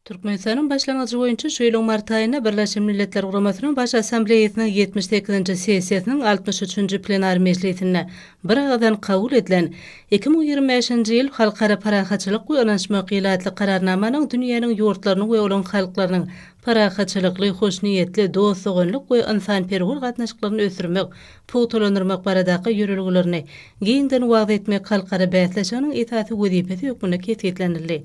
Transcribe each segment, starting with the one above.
Türkmenistanyň başlangyjy boýunça şu ýylyň mart aýynda Birleşen Milletler Guramasynyň Baş Assambleýasynyň ýetmiş sekizinji sessiýasynyň altmyş üçünji plenar mejlisinde bir agyzdan kabul edilen Iki müň ýigrimi bäşinji ýyl Halkara parahatçylyk we ynanyşmak ýyly atly Kararnamanyň dünýäniň ýurtlarynyň we olaryň halklarynyň parahatçylykly, hoşniýetli, dost-doganlyk we ynsanperwer gatnaşyklaryny ösdürmek, pugtalandyrmak baradaky ýörelgelerini giňden wagyz etmek halkara bäsleşiginiň esasy wezipesi hökmünde kesgitlenildi.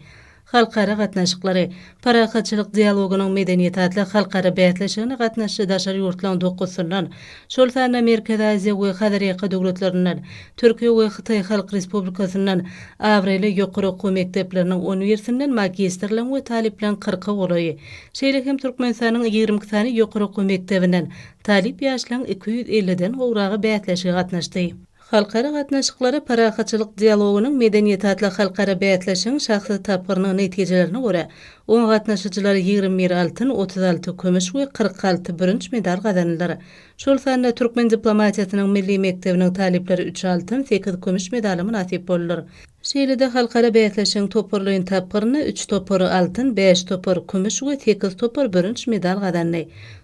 Halkara gatnaşyklary, parahatçylyk dialogynyň medeniýeti atly halkara bäsleşigine gatnaşyjy daşary ýurtlaryň dokuzysyndan, şol sanda Merkezi Aziýa we Hazarýaka döwletlerinden, Türkiýe we Hytaý Halk Respublikasyndan abraýly ýokary okuw mekdepleriniň on birsinden magistrlaryň we talyplaryň kyrka golaýy, şeýle hem Türkmenistanyň ýigrimi iki sany ýokary okuw mekdebinden talyp ýaşlaryň iki ýüz elliden gowragy bäsleşige gatnaşdy. Halkara gatnaşyklary parahatçylyk dialogynyň medeniýet atly halkara bäsleşigiň şahsy tapgyrynyň netijelerine görä, oňa gatnaşyjylar ýigrimi bir altyn, otuz alty kümüş we kyrk alty bürünç medal gazandylar. Şol sanda türkmen diplomatiýasynyň milli mekdebiniň talyplary üç altyn, sekiz kümüş medala mynasyp boldular. Şeýle-de halkara bäsleşigiň toparlaýyn tapgyrynda üç topar altyn, bäş topar kümüş we sekiz topar bürünç medal gazandy.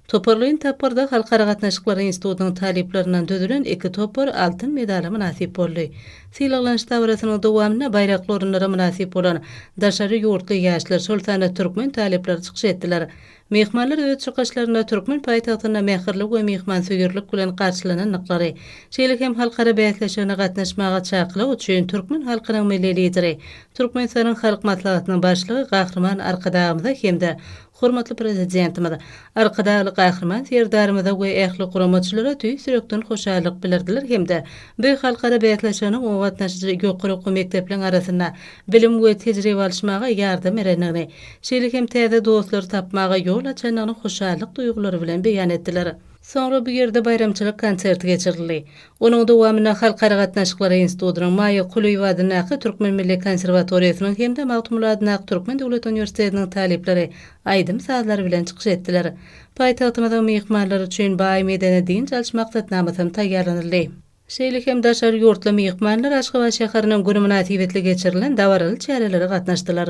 Toparlaýyn tapgyrda Halkara gatnaşyklary institutynyň talyplaryndan düzülen iki topar altyn medala mynasyp boldy. Sylaglanyş dabarasynyň dowamynda baýrakly orunlara mynasyp bolan daşary ýurtly ýaşlar, şol sanda türkmen talyplary çykyş etdiler. Myhmanlar öz çykyşlarynda türkmen paýtagtynda mähirli we myhmansöýerlik bilen garşylanandyklary, şeýle hem halkara bäsleşigine gatnaşmaga çakylyk üçin türkmen halkynyň Milli Lideri, Türkmenistanyň Halk Maslahatynyň Başlygy Gahryman Arkadagymyza hem-de hormatly Prezidentimiz, Arkadagly Gahryman Serdarymyza we ähli guramaçylara tüýs ýürekden hoşallyk bildirdiler hem-de bu halkara bäsleşiginiň o gatnaşyjy ýokary okuw mekdepleriň arasynda bilim we tejribe alyşmaga ýardam berendigini şeýle hem täze dostlar tapmaga ýol açandygyny hoşallyk duýgulary bilen beýan etdiler. Soňra bu ýerde baýramçylyk konserti geçirildi. Onuň dowamynda Halkara gatnaşyklary institutynyň, Maýa Kulyýewa adyndaky Türkmen milli konserwatoriýasynyň hem-de Magtymguly adyndaky Türkmen döwlet uniwersitetiniň talyplary aýdym-sazlary bilen çykyş etdiler. Paýtagtymyzyň myhmanlary üçin baý medeni-dynç alyş maksatnamasy hem taýýarlanyldy. Şeýle hem daşary ýurtly myhmanlar Aşgabat şäheriniň güni mynasybetli geçirilen dabaraly çärelere gatnaşdylar.